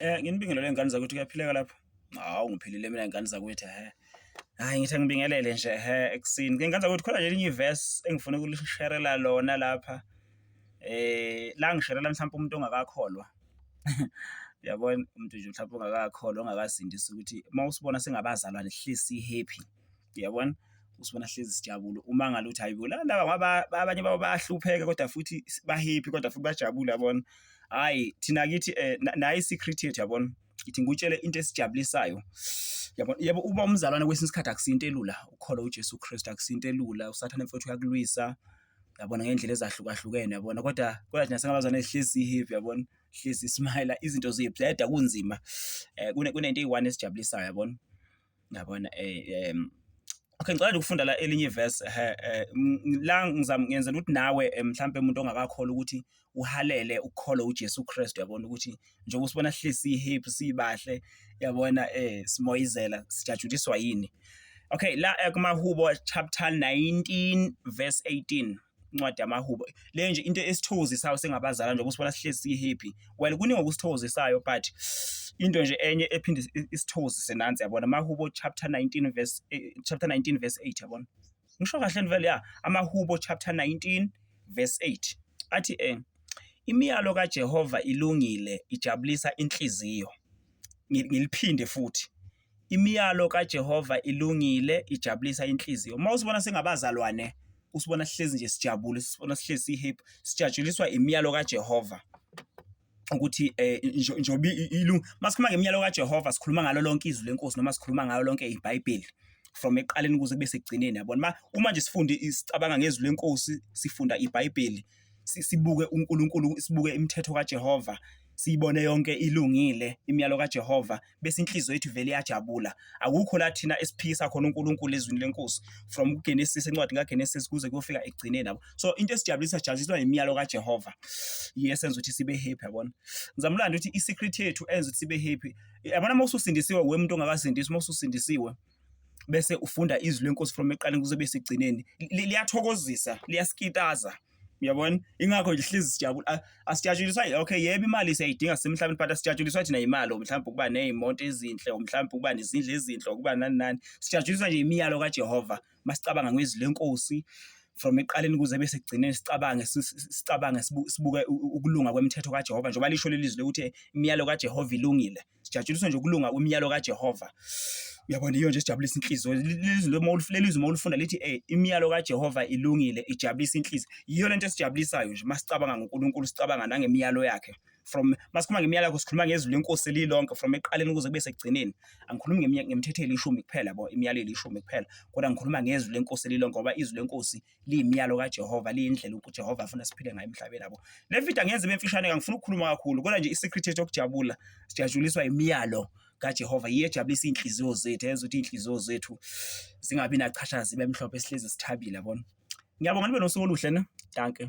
Eh nginibingelele ingane zakwethu kuyaphileka lapho. Hawu ngiphilile mina ingane zakwethu he. Hayi ngithi ngibingelele nje he ekusini. Ke ingane zakwethu khona nje elinye verse engifuna ukulisherela lona lapha. Eh la ngisherela mhlawumbe umuntu ongakakholwa. Uyabona umuntu nje mhlawumbe ongakakholwa ongakasindisa ukuthi uma usibona singabazalwane sihlezi si happy. uyabona usibona hlezi sijabule uma ngale ukuthi hayibo la laba ngoba abanye babo bayahlupheka kodwa futhi bahappy kodwa futhi bajabule yabona hayi thina kithi eh, naye i-secret yethu yabona ngithi ngikutshele into esijabulisayo yabo yebo uba umzalwane kwesinye isikhathi akusinto elula ukholwa uJesu Kristu akusinto elula usathane mfowethu uyakulwisa yabona ngendlela ezahlukahlukene yabona kodwa kodwa thina singabazana ehlisi happy yabona hlisi smile izinto ziyebleda kunzima eh kunento eyi-one esijabulisayo yabona Yabona okay ngicela nje ukufunda la elinye ivesi la ngizama ngenzela ukuthi nawe mhlampe umuntu ongakakholwa ukuthi uhalele ukukholwa uJesu Kristu, yabona ukuthi njengoba usibona sihlezi si-happy sibahle, yabona simoyizela sijatshuliswa yini. Okay la kumaHubo chapter 19 verse 18. incwadi yamahubo le nje into esithokozisayo singabazalana nje ukusibona sihlezi sihappy well kuningi okusithokozisayo but into nje enye ephinde isithozise nansi yabona amahubo chapter 19 verse eh, chapter 19 verse 8 yabona ngisho kahle vele ya amahubo chapter 19 verse 8 athi eh imiyalo kaJehova ilungile ijabulisa inhliziyo ngiliphinde futhi Imiyalo kaJehova ilungile, ijabulisa inhliziyo. Uma usibona singabazalwane, usibona sihlezi nje sijabule, usibona sihlezi si-happy, sijatshuliswa imiyalo kaJehova ukuthi eh njobe ilungu masikhuluma ngemiyalo kaJehova sikhuluma ngalo lonke izwi lenkosi noma sikhuluma ngalo lonke iBhayibheli from eqaleni kuze kube sekugcineni yabona uma nje sifunde isicabanga ngezwi lenkosi sifunda iBhayibheli sibuke uNkulunkulu sibuke imithetho kaJehova siyibone yonke ilungile imiyalo kaJehova bese inhliziyo yethu vele iyajabula akukho la thina esiphikisa khona uNkulunkulu ezwini lenkosi from uGenesis encwadi kaGenesis kuze kuyofika ekugcineni yabo so into esijabulisa sijabuliswa imiyalo kaJehova yesenza ukuthi sibe happy yabona ngizamlanda ukuthi isecret yethu enza ukuthi sibe happy yabona uma ususindisiwe wemuntu ongakasindiswa uma ususindisiwe bese ufunda izwi lenkosi from eqaleni kuze bese egcineni liyathokozisa liyasikitaza uyabona ingakho nje hlezi sijabula asijatshuliswa okay yebo imali siyayidinga semhlabeni but asijatshuliswa thina imali mhlawumbe ukuba nezimonto ezinhle mhlawumbe ukuba nezindle ezinhle ukuba nani nani sijatshuliswa nje imiyalo kaJehova masicabanga ngezwi lenkosi from eqaleni kuze bese kugcineni sicabange sicabange sibuke ukulunga kwemithetho kaJehova njengoba lisho lelizwi ukuthi imiyalo kaJehova ilungile sijatshuliswe nje ukulunga kwemiyalo kaJehova uyabona iyo nje sijabulisa inhliziyo lizwi uma ulifulelizwe uma ulifunda lithi eh imiyalo kaJehova ilungile ijabulisa inhliziyo yiyo lento esijabulisayo nje masicabanga ngoNkulunkulu sicabanga nangemiyalo yakhe from masikhuluma ngemiyalo yakho sikhuluma ngezwi lenkosi lilonke from eqaleni kuze kube sekugcineni angikhulumi ngemthetho elishumi kuphela bo imiyalo elishumi kuphela kodwa ngikhuluma ngezwi lenkosi lilonke ngoba izwi lenkosi liyimiyalo kaJehova liyindlela uJehova afuna siphile ngayo emhlabeni yabo le video angenze ibe mfishane kangifuna ukukhuluma kakhulu kodwa nje i-secret yethu yokujabula sijatshuliswa imiyalo kaJehova yiyo ejabulisa iy'nhliziyo zethu yenza ukuthi iy'nhliziyo zethu zingabi nachashazi ibe mhlophe sihlezi sithabile yabona ngiyabonga nibe nosuku oluhle ne danke